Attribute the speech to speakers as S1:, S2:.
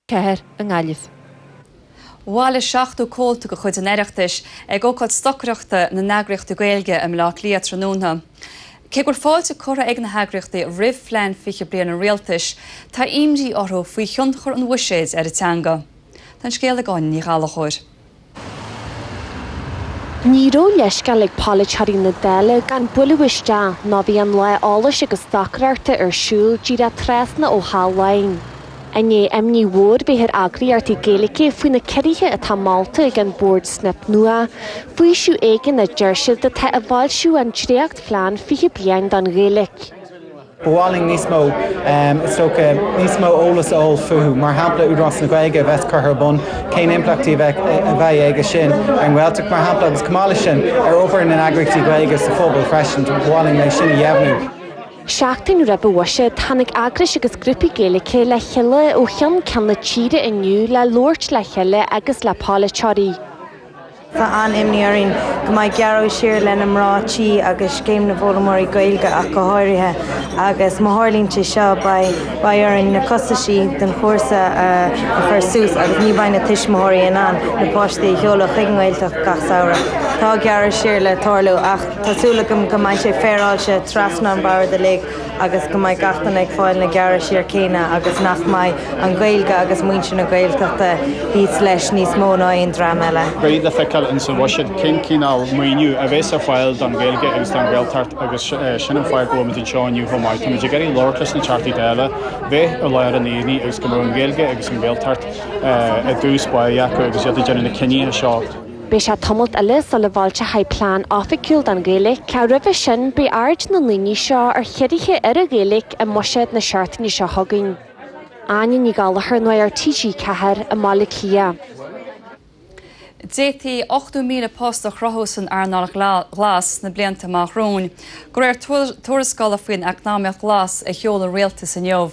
S1: Ceathair i
S2: nGaillimh. Bhailigh 70 comhalta de chuid an Oireachtais ag ócáid stocaireachta na n-eagraíochtaí Gaeilge i mBaile Átha Cliath tráthnóna. Cé gur fáilte curtha ag na heagraíochtaí roimh phlean 20 bliain an Rialtais, tá imní orthu faoi thionchar an bhuiséid ar an teanga. Tá an scéal ag Áine Ní Ghallachóir.
S1: Ní raibh leithscéal ag polaiteoirí na Dála gan bualadh isteach ná bhí an lá eolais agus stocaireachta ar siúl díreach trasna ó Theach Laighean. I ndiaidh imní mhór bheith ar eagraíochtaí Gaeilge faoi na ciorruithe atá molta ag an Bord Snip Nua, faoiseamh éigin a deir siad atá i bhfoilsiú an dréachtphlean 20 bliain don Ghaeilge. Ba mhaith
S3: linn níos mó, is dócha, níos mó eolais a fháil fúthu, mar shampla Údarás na Gaeilge a bheas curtha ar bun, cén impleachtaí a bheadh aige sin ar an nGaeltacht, mar shampla, agus chomh maith leis sin, ar obair na n-eagraíochtaí Gaeilge sa phobal freisin. Ba mhaith linn é sin a dheimhniú.
S1: Seachtain roimh an bhuiséad, tháinig eagrais agus grúpaí Gaeilge le chéile ó cheann ceann na tíre inniu le labhairt le chéile agus le polaiteoirí.
S4: Tá an-imní orainn go mbeidh gearradh siar le na mná tí agus Scéim na bhFoghlaimeoirí Gaeilge ach go háirithe agus má tharlaíonn sé seo beidh beidh orainn na costaisí don chúrsa a chur suas agus ní bheidh na tuismitheoirí in ann na páistí a sheoladh chuig an nGaeltacht gach samhradh. Tá gearradh siar le tarlú ach tá súil agam go mbeidh sé féaráilte trasna an bhoird uilig. agus go mbeidh gach duine ag fáil na gearradh siar céanna agus nach mbeidh an Ghaeilge agus muintir na Gaeltachta thíos leis níos mó ná aon dream eile. Beidh le feiceáil in sa bhuiséad
S5: cén cineál maoiniú a bheas ar fáil don Ghaeilge agus don Ghaeltacht agus sin an fáth go bhfuilmid anseo inniu chomh maith. Táimid ag iarraidh labhairt leis na Teachtaí Dála bheith i lár an aonaigh agus go mbeadh an Ghaeilge agus an Ghaeltacht i dtús báire acu agus iad ag déanamh na cinnithe seo. Beidh sé
S1: tamalt eile sula bhfoilseochar plean oifigiúil don Ghaeilge, ach roimhe sin beidh aird na ndaoine seo ar chiorruithe ar an Ghaeilge i mbuiséad na seachtaine seo chugainn. Áine Ní Ghallachóir, Nuacht TG4, i mBaile Átha
S2: Cliath. D'fhéadfaí 80,000 post a chruthú san earnáil ghlas sna blianta amach romhainn, de réir tuarascála faoin eacnamaíocht ghlas a sheol an rialtas inniu.